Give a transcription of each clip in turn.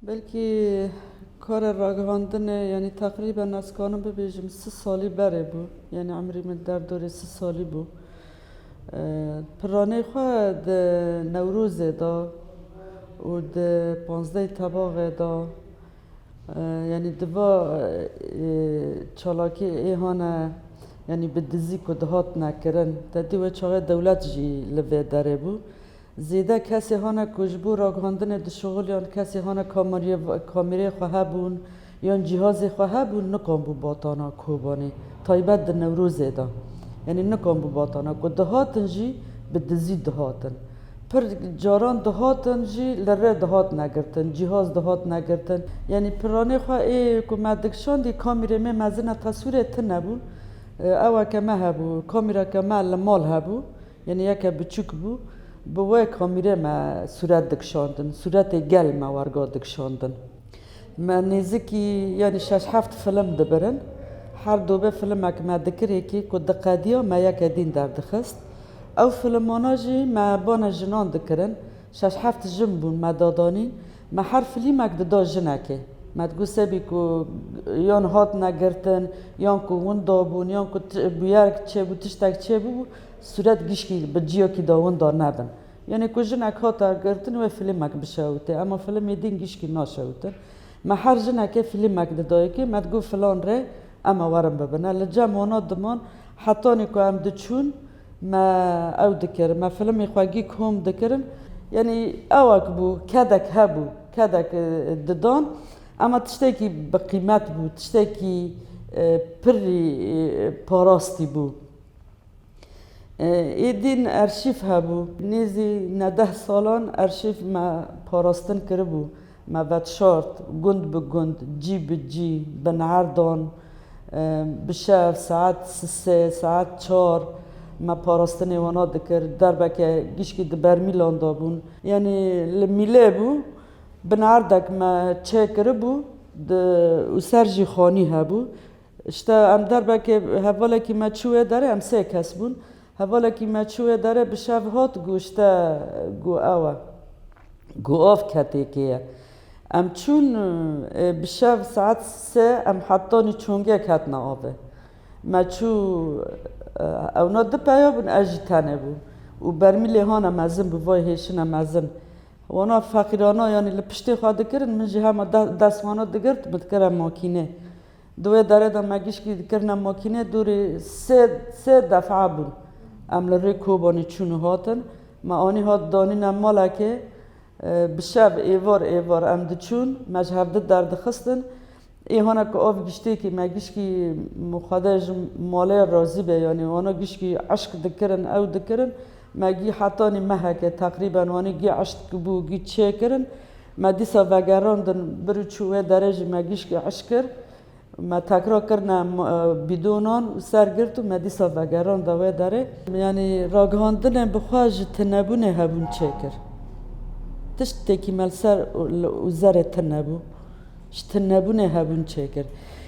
Belkî kara ragihandinê yanî teqrîben ez karim bibêjim si salî berê bû. Yanî emrî min derdorê si salî bû. Piranê xwe di Newrozê de û di panzdehê Tebaxê de yanî di va çalakî êhane yanî bi dizî ku dihatine kirin. Tedî wê çaxê dewlet jî li vê derê bû. Zêde kesê hene ku ji bo ragihandinê dişuxil yan kesê hene kamereyê xwe hebûn yan cîhazê xwe hebûn nikanbû batana Kobanê taybet di Newrozê de yanî nikanbû batana ku dihatin jî bi dizî dihatin. Pir caran dihatin jî li rê dihat negirtin, cîhaz dihat negirtin. Yanî piranê xwe ê ku me dikişandî kamerê mê mezin e teswîrê tune bûn. Ew ke me hebû, kamereke me li mal hebû Yanî yeke biçûk bû, bi wê kamîrê me sûret dikişandin, sûretê gel me werga dikişandin. Me nêzîkî yanî şeş heft film dibirin. Her dobê filimek me dikirêkî ku diqediya me yeke dîn derdixist. Ew filimana jî me bana jinan dikirin. Şeş heft jin bûn me dadanîn. Me her filîmek dida jinekê. Me digot sebî ku yan hatine girtin, yan ku winda bûn, yan ku bûyerek çêbû, tiştek çêbû bû. Sûret gişkî bi ciyakî de winda nebin. Yanî ku jinek hate girtin wê filîmek bişewite. Ema filîmê din gişkî naşewitin. Me her jinekê filîmek didayikî, me digot filan rê eme werin bibine. Li cem wana diman. Hetanî ku em diçûn me ew dikirin. Me filîmê xwe gîk hom dikirin. Yanî ewek bû, kedek hebû, kedek didan. Ema tiştekî bi qîmet bû, tiştekî pirrî parastî bû. Êdîn erşîf hebû. Nêzî nedeh salan erşîf me parastin kiribû. Me vetşart gund bi gund, cî bi cî, bi neerdan, bi şev saet sê, saet çar me parastinê wana dikir. Derbeke gişkî di bermîlan de bûn. Yanî li mîlê bû. Bi neerdek me çêkiribû û ser jî xanî hebû. Îşte em derbekê hevalekî me çû wê derê, em sê kes bûn. Hevalekî me çû wê derê bi şev hat ku îşte ku ew e. Ku av ketêkê ye. Em çûn ê bi şev saet sê em hetanî çongêk hatina avê. Me çû ewna di peya bûn ez jî tenê bûm û bermîlê hane mezin bi vay hêşine mezin. Wana feqîrana yanî li piştê xwe dikirin min jî hema destwana digirt min dikire makînê. Di wê derê de me giştî dikirine makînê dûrî sê defa bûn. Em li rê Kobanê çûn û hatin. Me anî hat danîne malekê. Bi şev êvar êvar em diçûn, me ji hev di derdixistin. Ê hane ku av giştêkî me giştî xwedê ji malê razî be yanî wana giştî eşq dikirin ew dikirin. Me gî hetanî meheke teqrîben wanî gî eşt kibû gî çê kirin. Me dîsa vegerandin bir û çû wê derê jî me gîşkê eşt kir. Me tekra kirine bîdonan û ser girt û me dîsa vegeranda wê derê. Yanî ragihandinên bi xwe ji tunebûnê hebûn çê kir. Tişt têkîmel ser û zerê tun nebû. Ji tunebûnê hebûn çê kir.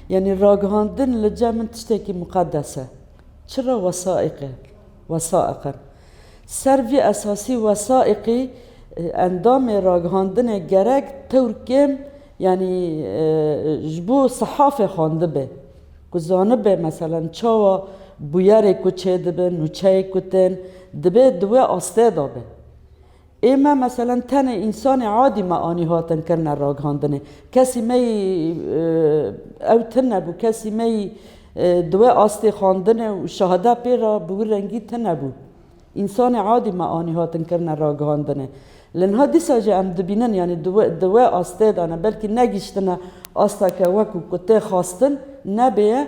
Yanî ragihandin li cem min tiştekî miqedes e. Çira wesaîq e. Wesaîqe Ser vî esasî wesaîqî endamê ragihandinê gerek tewr kêm yanî ji bo sehafê xwendibe ku zanibe meselen çawa bûyerê ku çêdibin nûçeyê ku tên dibê di wê astê de be. Ê me meselen tenê însanê adî me anî hatin kirine ragihandinê. Kesî me yî ew tune nebû, kesî me yî di wê astê xwendinê û şahide pê re bi wî rengî tune nebû. Însanê adî me anî hatin kirine ragihandinê. Li niha dîsa jî em dibînin yanî di wê astê de ne belkî negihiştine asta ke wekû ku tê xwestin nebêye,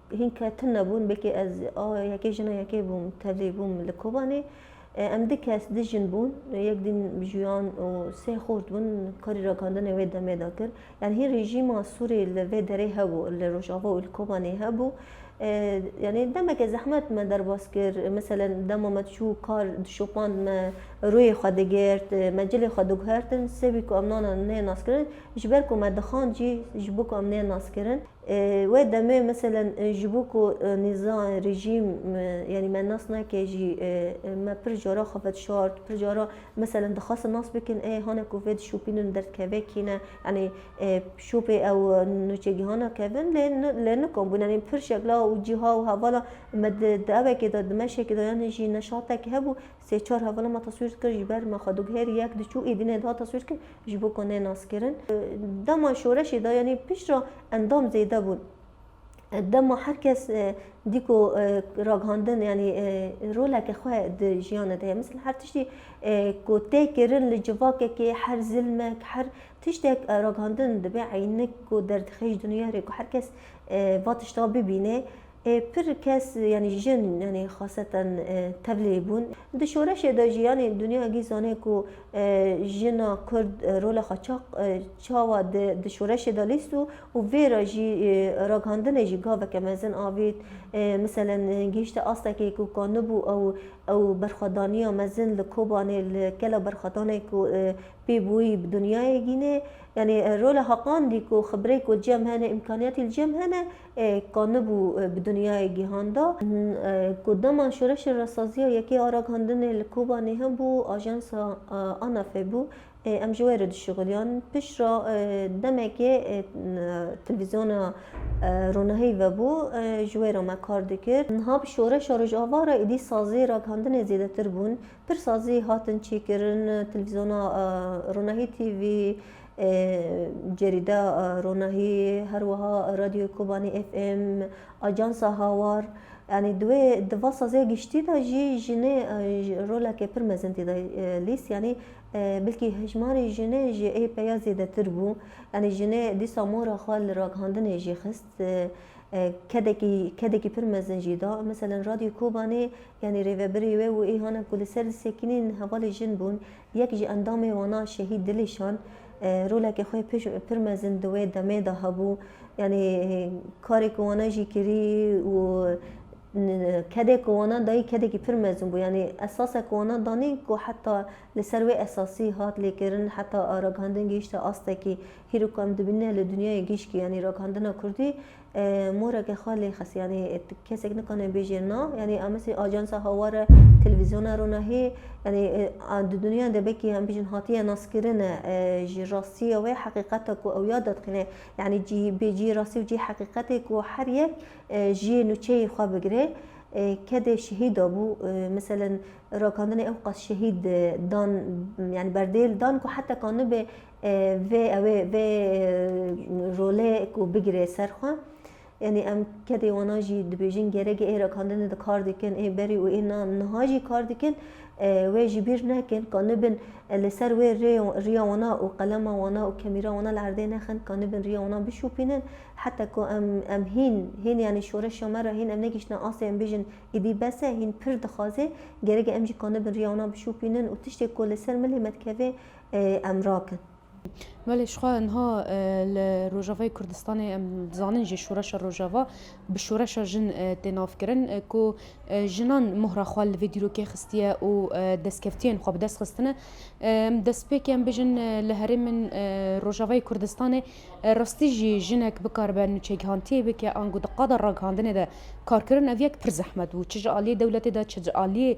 Hîn ketin nebûn, belkî ez a yekê jina yekê bûm, tevlî bûm li Kobanê. Em du kes, du jin bûn, yek din juyan û sê xort bûn karî rakandinê wê demê de kir. Yanî hîn rejîma Sûrê li vê derê hebû, li Rojava û li Kobanê hebû. Yanî demeke zehmet me derbas kir, meselen dema me diçû kar dişopand me rûyê xwe digirt, me cilê xwe diguhertin, sibê ku em nane nê naskirin, ji ber ku me dixand jî ji bo ku em nê naskirin. Wê demê meselen ji bo ku nîza rejîm yanî me nas nake jî me pir cara xwe vedişart, pir cara meselen dixwastin nas bikin ê hane ku vê dişopînin derdkevekî ne yanî şopê ew nûçegihana kevin lê lê nikomîbûn yanî pir şekla û cîha û hevala me di di evekê de di meşekê de yanî jî neşatekî hebû Sê çar hevala me teswîr dikir ji ber me xwe dû her yek diçû êdînê dihat teswîr kirin ji bo ku nênaskirin. Dema şoreşê de yanî pişt re endam zêde bûn. Dema her kes dî ku ragihandin yanî roleke xwe di jiyanê de heye. Misal her tiştî ku tê kirin li civakekê her zilmek her tiştek ragihandin dibe eynik ku derdixêj dinûyere ku her kes va tişta bibîne. Ê pir kes yanî jin yanî xaseten tevlî bûn. Di şoreşê de jî yanî dinya gî zanê ku jina kurd rola xwe çax çawa di di şoreşê de lîst û û vê re jî ragihandinê jî gaveke mezin avît. Miselen gihîşte astekê ku ka nibû ew ew berxwedaniya mezin li Kobanê li gela berxwedanê ku pê bûyî bi dinyayê gînê. Yanî rola heqandî ku xibirê ku cem hene, îmkaniyatî li cem hene, ka nebû bi dinyayê gihan da. Ku dema Şoreşê Rastsaziya Yekê a Ragihandinê li Kobanê hebû, ajansa ANAF'ê bû, em ji we re dişuxiliyan. Piştre demekê televîzyona Ronahî vebû, ji wê re me kar dikir. Niha bi Şoreşa Rojava re êdî sazê ragihandinê zêdetir bûn. Pir sazî hatin çêkirin, televîzyona Ronahî TV, Cerîda Ronahî, her wiha Radyoya Kobanê FM, Ajansa Hawar yanî di wê di va saziya giştî de jî jinê roleke pir mezin tê de lîst yanî bilkî hejmarê jinê ji ê peya zêdetir bû. Yanî jinê dîsa mora xwe li ragihandinê jî xist. Kedekî kedekî pir mezin jî da. Meselen Radyoya Kobanê yanî rêvebirê wê û ê hanin ku li ser disekinîn hevalê jin bûn. Yek ji endamên wana Şehîd Dilîşan roleke xwe pir mezin di wê demê de hebû. Yanî karê ku wana jî kirî û kedê ku wana dayî kedekî pir mezin bû. Yanî esasek ku wana danî ku heta li ser wê esasî hat lêkirin heta ragihandin gihîşte astekî hîrok ku em dibînin li dinyayê gişkî yanî ragihandina kurdî. moreke xwe lê xist yanî kesek nikane bêje na yanî em misê ajansa hawar e televîzyona ronahî yanî di dunyan de belkî em bijin hatiye naskirin e ji rastiye wê heqîqeta ku ew ya dadixîne yanî cî bê cî rastî û cî heqîqetê ku her yek jiyê nûçeyê xwe bigire kedê şehîd dabû miselen rakandinê ew qas şehîd dan yanî berdêl dan ku heta ka nibe Vê ew ê vê rolê ku bigirê ser xwe. Yanî em kedê wana jî dibêjin gerekê ê rakandinê de kar dikin, ê berî û ê niha jî kar dikin. Wê ji bîr nekin ka nibin li ser wê rê riya wana û qelema wana û kemîra wana li erdê nexin ka nibin riya wana bişopînin. Heta ku em em hîn hîn yanî şoreşa me re hîn em negihiştine astê em bêjin îdî bes e hîn pir dixwaze. Gerek e em jî ka nibin riya wana bişopînin û tiştê ku li ser milê me dikeve em rakin. Belê jixwe niha li Rojavayê Kurdistanê em dizanin jî Şoreşa Rojava bi Şoreşa Jin tê navkirin ku jinan mohra xwe li vê dîrokê xistiye û destkevtiyên xwe bi dest xistine. Em destpêkê em bijin li herêmên Rojavayê Kurdistanê rastî jî jinek bikaribe nûçegihantiyê bike ango di qada ragihandinê de karkirin ev yek pir zehmet bû çi ji aliyê dewletê de çi ji aliyê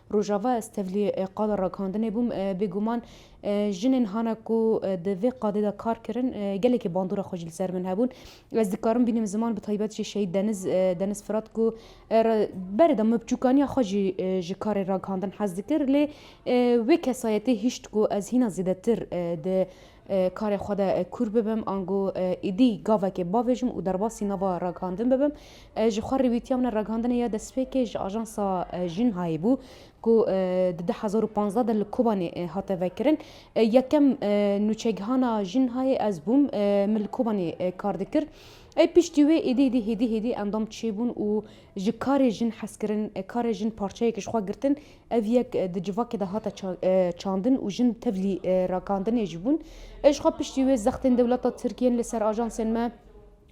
Rojava ez tevlî qada rakandinê bûm. Bêguman jinên hana ku di vê qadê de kar kirin gelekî bandora xwe jî li ser min hebûn. Ez dikarim bînim ziman bi taybet jî şehîd Deniz Deniz Firat ku berê de min bi bçûkaniya xwe jî ji karê rakandin hez dikir lê wê kesayetê hişt ku ez hîna zêdetir di Karê xwe de kûr bibim, ango êdî gavekê bavêjim û derbasî nava ragihandin bibim. Ji xwe re wîtiya min ragihandinê ya destpêkê ji ajansa Jinhayê bû ku di du hezar û panzdeh de li Kobanê hate vekirin. Yekem nûçegihana Jinhayê ez bûm, min li Kobanê kar dikir. Piştî wê êdî êdî hêdî hêdî endam çêbûn û ji karê jin hezkirin, karê jin parçeyek ji xwe girtin Ev yek di civakê de hate çandin û jin tevlî rakandinê jî bûn. Jixwe piştî wê zextên dewleta Tirk yên li ser ajansên me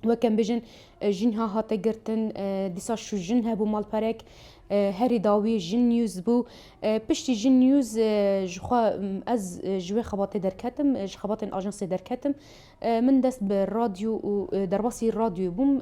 wek em bêjin jînha hate girtin. Dîsa şûjin hebû malperek herî dawî Jin News bû. Piştî Jin News jixwe ez ji wê xebatê derketim, ji xebatên ajansê derketim. Min dest bi radyo û derbasî radyoyê bûm.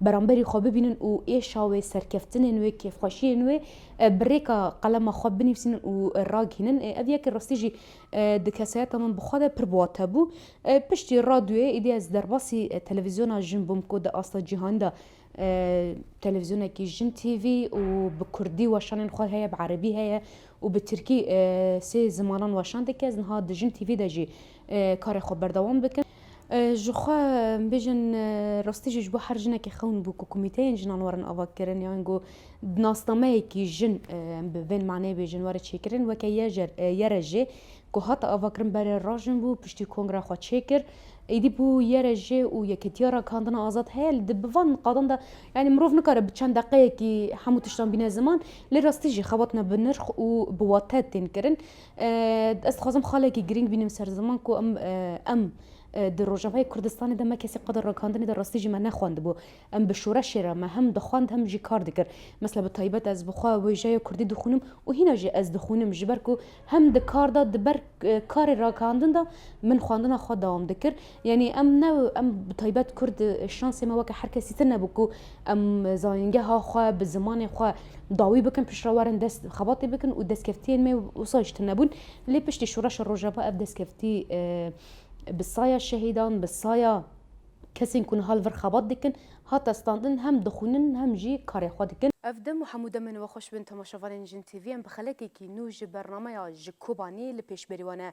beramberî xwe bibînin û êşa wê, serkeftinên wê, kêfxweşiyên wê bi rêka qelema xwe binivîsînin û ragihînin. Ev yekê rastî jî di kesayeta min bi xwe de pir bi wat hebû. Piştî radyoyê êdî ez derbasî televîzyona jin bûm ku di asta cîhanî de televîzyonekî jin TV û bi kurdî weşanên xwe heye, bi erebî heye û bi tirkî sê zimanan weşan dike. Ez niha di jin TV de jî karê xwe berdewam bikin. Ji xwe bijin rastî jî ji bo her jinekê xewn bû ku komîteyên jinan werin avakirin yan ku nasnameyekî jin bi vê maneyê bê jin were çêkirin weke yere jê ku hate avakirin berê rajin bû piştî kongre xwe çêkir êdî bû yere jê û yeketiya rakandina azad heye li di bi van qadan de yanî mirov nikare bi çend deqeyekî hemû tiştan bîne ziman lê rastî jî xebatna bi nirx û bi wate tên kirin. Ez dixwazim xalekî girîng bînim ser ziman ku em em di Rojavayê Kurdistanê de me kesî qada rakandinê de rastî jî me nexwendibû. Em bi şoreşê re me hem dixwend hem jî kar dikir. Mesela bi taybet ez bi xwe wêjeya Kurdî dixwînim û hîna jî ez dixwînim ji ber ku hem di kar de di ber karê rakandin de min xwendina xwe dewam dikir. Yanî em ne em bi taybet kurd şansê me weke her kesî tune bû ku em zanîngeha xwe bi zimanê xwe dawî bikin pişt re werin dest xebatê bikin û destkeftiyên me wisa jî tune bûn. Lê piştî şoreşa Rojava ev destkeftî bi saya şehîdan, bi saya kesên ku niha li vir xebat dikin, Hate standin hem dixwînin hem jî karê xwe dikin. Ev dem û hemû demên we xweş bin temaşevanên Jin TV. Em bi xelekekî nû ji bernameya Ji Kobanî li pêş berî wan e.